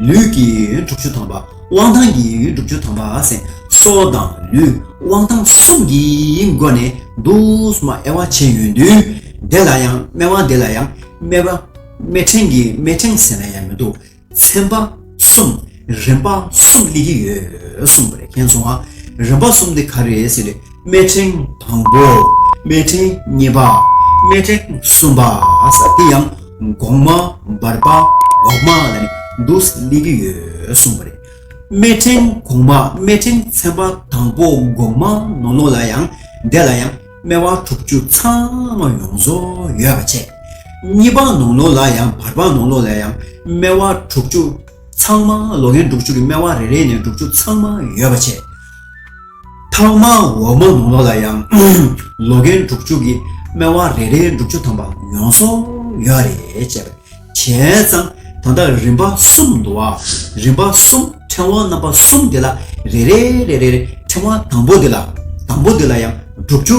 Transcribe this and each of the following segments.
ལུས་ཀྱི་ཡུལ་ཡོན་དྲུག་ཅུ་ཐམ་པ་དབང་ཐང་གི་ཡུལ་ཡོན་དྲུག་ཅུ་ཐམ་པ་སེམས་གསོ་དང་ལུས་དབང་ཐང་གསུམ་གྱི་སྒོ་ནས་བསྡུ་བསམ་དབྱེ་བ་བྱས་ཡོད་དུས་དེ་ལ་ཡང་སྨེ་བ་འདི་ལ་ཡང་སྨེ་བ། སྨེ་ཕྲེང་གི་སྨེ་ཕྲེང་ཟེར་ན་ཡང་མི་འདུག་ཚན་པ་གསུམ་རིམ་པ་གསུམ་གླེང་གི་ཡོད་གསུངས་པ་རེད་མཁན་ཚོ་ཨ་རིམ་པ་གསུམ་དེ་ག་རེད་ཟེར་ནས། སྨད་ཕྲེང་དང་པོ་སྨད་ཕྲེང་གཉིས་པ་སྨད་ཕྲེང་གསུམ་པ་དེ་ཡང་གོང་མ་འབར་བ་འོག་མ་ལ་ནི་འདུག་སླེབས་ཀྱི་ཡོད་གསུངས་པ་རེད། སྨད་ཕྲེང་གོང་མ་སྨད་ཕྲེང་ཚན་པ་དང་པོ་གོང་མ་ནོར་ལོངས་ལ་ཡང་འདས་ལ་ཡང་སྨད་བ་དྲུག་ཅུ་ཚང་མ་ཡོངས་རྫོགས་ཡོད་པ་བྱས། གཉིས་པ་ནོར་ལོངས་ལ་ཡང་འབར་བ་ནོར་ལོངས་ལ་ཡང་སྨད་བ་དྲུག་ཅུ་ཚང་མ་ལོ་རྒན་དྲུག་ཅུ་གྱི་སྨད་བ་རེ་རེ་ནས་དྲུག་ཅུ་ཚང་མ་ཡོད་པ་བྱས། ཐག་མ་འོག་མ་ནོར་ལོག་ལ་ཡང་ལོ་རྒན་འབྲུག་བཅུ་གི་སྨད་དབང་རེ་རེའི་འབྲུག་བཅུ་ཐམ་པ་ཡོང་སོང་ཡོད་རེད་ཅེས་པ་བྱས་ཙང་ད་ལྟ་རིམ་པ་གསུམ་འདུག་ཨ་རིམ་པ་གསུམ་ཕྲེང་བ་རྣམ་པ་གསུམ་དེ་ལ་རེ་རེ་རེ་རེར་ཕྲེང་བ་དང་པོ་འདི་ལ་དང་པོ་འདི་ལ་ཡང་འབྲུག་བཅུ།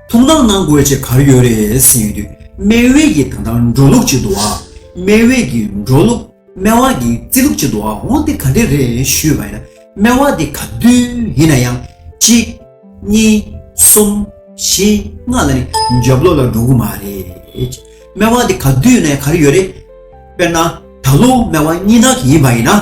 ཐུགས་སྣང་གནང་དགོས་ཆེད་གར་ཡོད་རེད་ཟེར་ཡོད་དུས་སྨན་དབུས་ཀྱི་ད་ལྟ་འགྲོ་ལུགས་ཅིག་འདུག་བ། སྨན་དབུས་ཀྱི་འགྲོ་ལུགས་སྨན་དབང་གི་རྩིས་ལུགས་ཅིག་འདུག་བ་འོང་དེ་ག་འདྲས་རེད་ཞུས་པ་ཡིན་ན་སྨན་དབང་འདི་ག་དུས་ཡིན་ན་ཡང་གཅིག། གཉིས། གསུམ། བཞི། ལྔ་ལ་ནི་འཇབ་ལོག་ལ་འགྲོ་གི་མ་རེད། སྨན་དབང་འདི་ག་དུས་ནས་གར་ཡོད་རེད། དཔེར་ན་ད་ལོ་སྨན་དབང་གཉིས་ལྷག་གི་ཡིན་པ་ཡིན་ན།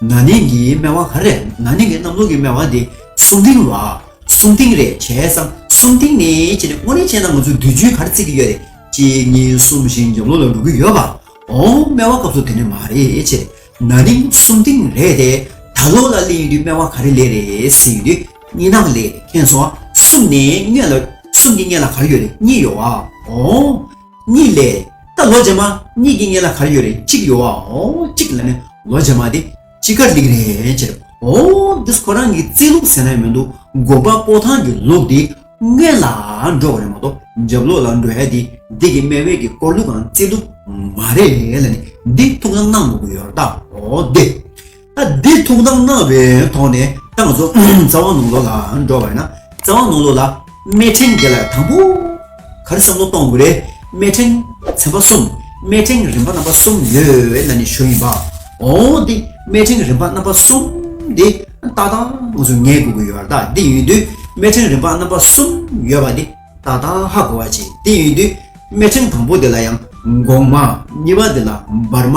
ན་ནིང་གི་སྨེ་བ་ག་རེད་ན་ནིང་གི་གནམ་ལོ་གི་སྨེ་བ་དེ་སུམ་ཏིང་ལ་སུམ་ཏིང་རེད་བྱས་སམ་སུམ་ཏིང་ནི་བྱས་ནས་དངོས་རེད་བྱས་ན་ང་ཚོ་བདུན་ཅུའི་གར་རྩིས་ཀྱི་ཡོད་རེད་གཅིག་གཉིས་གསུམ་བཞི་བརྒྱ་ལོ་ལ་འགྲོ་གི་ཡོད་པ་འོང་སྨེ་བ་སྐབས་སུ་དེ་ནི་མ་རེད་བྱས་ན་ནིང་སུམ་ཏིང་རེད་དེ་ད་ལོ་ལ་གླེང་ཡོད་དུས་སྨེ་བ་ག་རེ་ལས་རེད་ཟེར་ཡོད་དུས་གཉིས་ནང་ལས་ཁེངས་སོང་སུམ་ནི་གཉིས་ལ་སུམ་གྱི་གཉིས་ལ་ག་རེ་ཡོད་རེད་གཉིས་ཡོད་བ་འོང། གཉིས་ལས། ད་ལོ་རྗེས་མ་གཉིས་ཀྱི་ངེས་ལ་གར་ཡོད་རེད་གཅིག་ཡོད་བ་འོ་གཅིག་ལ་མེད་ལོ་རྗེས་མ་དེ་ཅི་གར་ལིག་རེད་ཅེ་རེད་འོ་འདིས་ཁོ་རང་གི་རྩིས་ལུགས་ཟེར་ན་མི་འདུག་དགོན་པ་སྤོ་ཐང་གི་ལུགས་དེ་སྔོན་ལ་འགྲོ་བ་རེད་མ་གཏོགས་འཇབ་ལོག་ལ་འགྲོ་ཡ་དེ་འདི་གི་སྨད་བོད་ཀྱི་སྐོར་ལུགས་དང་རྩིས་ལུགས་མ་རེད་ལ་ནི་འདི་ཐུགས་ལ་གནང་མ་དགོས་ཡོད་ར་ད་འོ་དེ། འདིར་ཐུགས་དམ་གནང་བའི་ཐོག་ནས་ཏང་རྫོགས་རྩ་བ་ནང་ལོགས་ལ་འགྲོ་བ་ཡིན་ན་རྩ་བ་ནང་ལོགས་ལ་དམེ་ཕྲེང་འགས་ལ་དང་པོ་གར་བསམ་བློ་གཏོང་དགོས་རེད་དམེ་ཕྲེང་ཚན་པ་གསུམ་དམེ་ཕྲེང་རིམ་པ་རྣམ་པ་གསུམ་ཡོད་ན་ནི་ཞོ་ཡིན་པ་འོང་སྟེ་དམེ་ཕྲེང་རིམ་པ་རྣམ་པ་གསུམ་དེ་ཏག་ཏག་ང་ཚོ་ངེས་དགོས་ཀྱི་ཡོད་རྟགས་འདི་ཡིན་དུས་དམེ་ཕྲེང་རིམ་པ་རྣམ་པ་གསུམ་ཡོད་པ་འདི་ཏག་ཏག་ཧ་གོ་བ་བྱས་འདི་ཡིན་དུས་དམེ་ཕྲེང་དང་པོ་དེ་ལ་ཡང་འགོག་མ་གཉིས་པ་དེ་ལ་འབར་མ།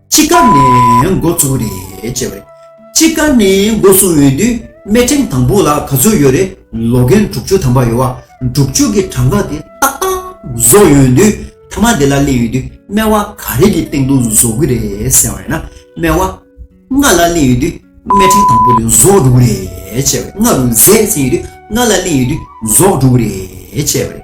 དཔྱིད་ཀ་ནས་འགོ་བཙུགས་རེད་ཅེས་པ། དཔྱིད་ཀ་ནས་འགོ་བཙུགས་ཡོད་དུས་སྨད་ཁྲིམས་དང་པོ་ལ་ག་ཚོད་ཡོད་རེད་ལོ་རྒན་དྲུག་ཅུ་ཐམ་པ་ཡོད་བ་དྲུག་ཅུ་གི་གྲངས་ཀ་དེ་ཏག་ཏག་བཟོ་ཡོད་དུས་ཐ་མ་དེ་ལ་གླེང་ཡོད་དུས་སྨད་བ་ག་རེ་གི་སྟེང་དུ་བཟོ་གི་རེད་ཟེར་བ་ཡིན་ན་སྨད་བ་ལྔ་ལ་གླེང་ཡོད་དུས་སྨད་ཁྲིམས་དང་པོ་དེ་བཟོ་དྲུག་རེད་ཅེས་པ་རེད་ལྔ་རུ་ཟས་ཟིན་ཡོད་དུས་ལྔ་ལ་གླེང་ཡོད་དུས་བཟོ་དྲུག་རེད་ཅེས་པ་རེད།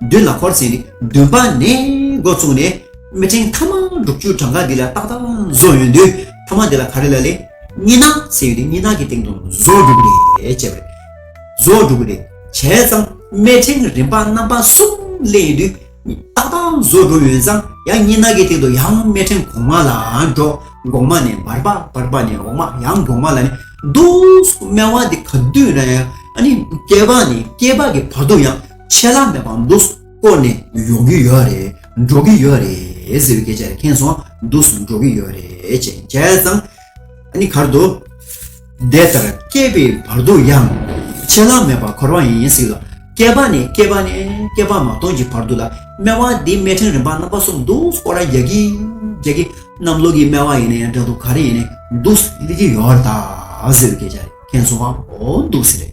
མདུན་ལ་འཁོར་ཚན་རིག་བདུན་པ་ནས་འགོ་བཙུགས་ནས་མི་ཕྲེང་ཐ་མ་དྲུག་ཅུ་གྲངས་ཀ་འདི་ལ་ཏག་ཏག་བཟོ་ཡོད་དུས་ཐ་མ་འདི་ལ་ག་རེ་ལ་ལས། གཉིས་སྣང་ཟེར་ཡོད་དུས་གཉིས་སྣང་གི་སྟེང་དུ་བཟོ་འགྲོ་གི་རེད་ཅེས་པ་རེད། བཟོ་འགྲོ་གི་རེད་བྱས་ཙང་མི་ཕྲེང་རིམ་པ་རྣམ་པ་གསུམ་གླེང་ཡོད་དུས་ཏག་ཏག་བཟོ་འགྲོ་ཡོད་ཙང་ཡང་གཉིས་སྣང་གི་སྟེང་དུ་ཡང་མི་ཕྲེང་གོང་མ་ལ་འགྲོ་གོང་མ་ནས་བར་པ་བར་པ་ནས་འོག་མ་ཡང་གོང་མ་ལ་ནས་འདུག་སྨྲ་བ་འདི་ག་དུས་ན་ཡང་ཨ་ནི་སྐྱེས་པ་ནས་སྐྱེས་པ་གི་བར་དུ་ཡང། ཆད་ལྷག་མེད་པ་འདུག་བསྐོར་ནས་ཡོང་གི་ཡོད་རེད་འགྲོ་གི་ཡོད་རེད་ཟེར་བའི་སྐད་ཆ་རེ་ཁེངས་སོང་འདུག་སུ་འགྲོ་གི་ཡོད་རེད་ཅེས་བྱས་ཙང་ཨ་གར་དུ། དེ་ལྟར་སྐྱེས་པའི་བར་དུ་ཡང་ཆད་ལྷག་མེད་པར་འཁོར་བ་ཡིན་ཡིན་ཟིག་ལ་སྐྱེས་པ་ནས་སྐྱེས་པ་ནས་སྐྱེས་པ་མ་སྟོང་གི་བར་དུ་ལ་སྨྲེ་བ་འདི་སྨྲེ་ཕྲེང་རིམ་པ་རྣམ་པ་གསུམ་འདུག་བསྐོར་ར་རྒྱག་གི་རྒྱག་གི་གནམ་ལོ་གི་སྨྲེ་བ་ཡིན་ནའི་འདྲ་འདུག་ག་རེ་ཡིན་ནའི་འདུག་སུ་གླེང་གི་ཡོད་རེད་ད་ཟེར་བའི་སྐད་ཆ་རེ་ཁེངས་སོང་བ་འདུག་ཟེར།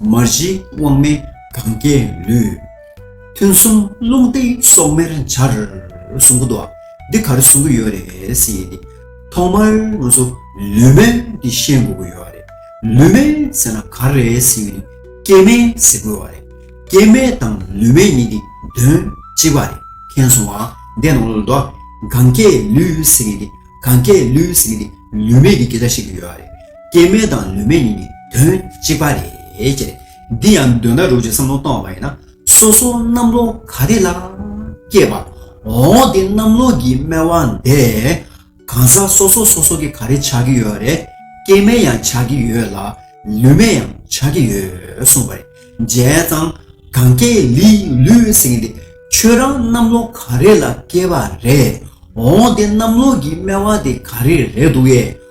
མ་གཞི་དབང་མེད་གང་སྐྱེ་ལུས། ཐུན་གསུམ་རླུང་སྟེང་སྲོག་མེར་འབྱར། གསུང་གོ། འདི་གར་གསུང་གི་ཡོད་རེད། ཐོག་མར་ང་ཚོ་ལུས་མེད་འདི་ཤེས་དགོས་ཀྱི་ཡོད་རེད། ལུས་མེད་ཟེར་ན་ག་རེད་ཟེར་གྱི་འདུག་སྐྱེ་མེད་ཟེར་དགོས་བ་རེད། སྐྱེ་མེད་དང་ལུས་མེད་གཉིས་ཀྱི་དོན་གཅིག་པ་རེད་མཁྱེན་སོང་ཨ། འདས་ནོ་ལོ་ཟླ། གང་སྐྱེ་ལུས་ཟེར་གྱི་འདི་གང་སྐྱེ་ལུས་ཟེར་གྱི་འདི་ལུས་མེད་ཀྱི་སྐད་ཆ་བཤད་ཀྱི་ཡོད་རེད། སྐྱེ་མེད་དང་ལུས་མེད་གཉིས་ཀྱི་དོན་གཅིག་པ་རེད། འདི་ཡང་འདོད་ན་རུང་ཞིག་བསམ་བློ་གཏོང་བ་ཡིན་ན། སོ་སོ་གནམ་ལོ་ག་རེ་ལ་སྐྱེས་པ་འོང་སྟེ་གནམ་ལོ་གྱི་སྨེ་བ་འདས་གང་ཟག་སོ་སོ་སོ་སོ་གི་ག་རེ་ཆགས་ཀྱི་ཡོད་རེད། སྐྱེ་མེད་ཡང་ཆགས་ཀྱི་ཡོད་ལ་ལུས་མེད་ཡང་ཆགས་ཀྱི་ཡོད་གསུངས་པ་རེད། བྱས་ཙང་གང་སྐྱེ་ལིས་ལུས་ཟེར་གྱི་འདི་ཁྱོད་རང་གནམ་ལོ་ག་རེ་ལ་སྐྱེས་པ་རེད་འོང་སྟེ་གནམ་ལོ་གྱི་སྨེ་བ་དེ་ག་རེ་རེད་འདུག་ཡེ།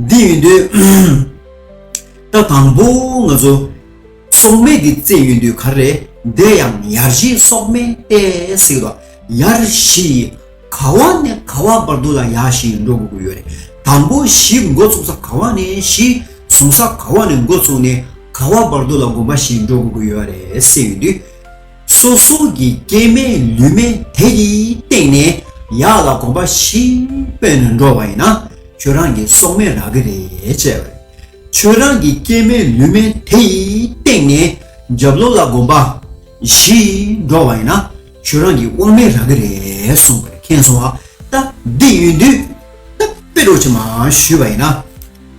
འདི་ཡོད་དུས་ད་དང་པོ་ང་ཚོ་སོག་སྨན་འདི་བཙལ་ཡོད་དུས་ག་རེ་བསྡད་ཡང་ཡར་བཞི་སོག་སྨན་བལྟས་ཟིག་ལ་ཡར་བཞི་ག་བ་ནས་ག་བ་བར་དུ་ལ་ཡར་བཞི་འགྲོ་དགོས་ཀྱི་ཡོད་རེད་དང་པོ་བཞི་འགོ་ཚུགས་ས་ག་བ་ནས་བཞི་བཟུང་ས་ག་བ་ནས་འགོ་ཚུགས་ནས་ག་བ་བར་དུ་ལ་དགོན་པ་བཞི་འགྲོ་དགོས་ཀྱི་ཡོད་རེད་ཟེར་ཡོད་དུས་སོ་སོ་གི་སྐྱེ་མེད་ལུས་མེད་དེ་ཡི་སྟེང་ནས་ཡག་ལ་གོམ་པ་བཞི་སྤོས་ནས་འགྲོ་བ་ཡིན་ན་ཁྱོད་རང་གི་སྲོག་མེད་རག་གི་རེད་ཅེས་པ་རེད། ཁྱོད་རང་གི་སྐྱེ་མེད་ལུས་མེད་དེ་ཡི་སྟེང་ནས་རྒྱབ་ལོག་ལ་གོམ་པ་བཞི་འགྲོ་བ་ཡིན་ན་ཁྱོད་རང་གི་དབང་མེད་རག་གི་རེད་གསུངས་པར་མཁྱེན་སོང་བ་ལྟ་འདི་ཡོད་དུས་ད་དཔེ་སྒྲོག་ཅིག་མ་ཞུས་པ་ཡིན་ན་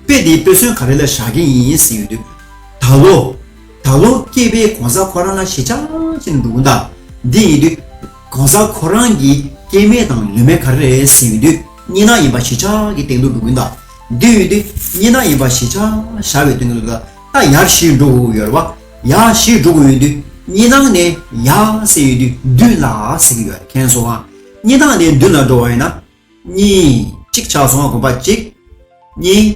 དཔེ་འདི་དཔེ་མཚོན་ག་རེ་ལ་བཞག་གིན་ཡིན་ཟེར་ཡོད་དུས་ད་ལོ། ད་ལོ་སྐྱེས་པའི་གོང་ས་ཁོ་རང་ལ་ཞེ་ཆགས་ཆེ་ནས་འདུག་གོ། འདི་ཡིན་དུས། གོང་ས་ཁོ་རང་གི་སྐྱེས་མེད་དང་ལུས་མེད་ག་རེ་རེད་ཟེར་ཡོད་དུས་རྙེད་ན་ཡིན་པ་ཞེ་ཆགས་ཀྱི་སྟེང་དུ་འདུག་གོ། འདི་ཡིན་དུས་རྙེད་ན་ཡིན་པ་ཞེ་ཆགས་བྱ་བའི་སྟེང་དུ་འདུག་ད་ཡར་བཞིར་འགྲོ་དགོས་ཡོད་རེད་བ། ཡར་བཞིར་འགྲོ་དགོས་ཡོད་དུས་རྙེད་ནང་ནས་ཡར་ཟེར་ཡོད་དུས་མདུན་ལ་ཟེར་གྱི་ཡོད་རེད་མཁྱེན་སོང་ང། རྙེད་ནང་ནས་མདུན་ལ་འགྲོ་བ་ཡིན་ན། གཉིས། གཅིག་ཆགས་སོང་གོམ་པ་གཅིག། གཉིས།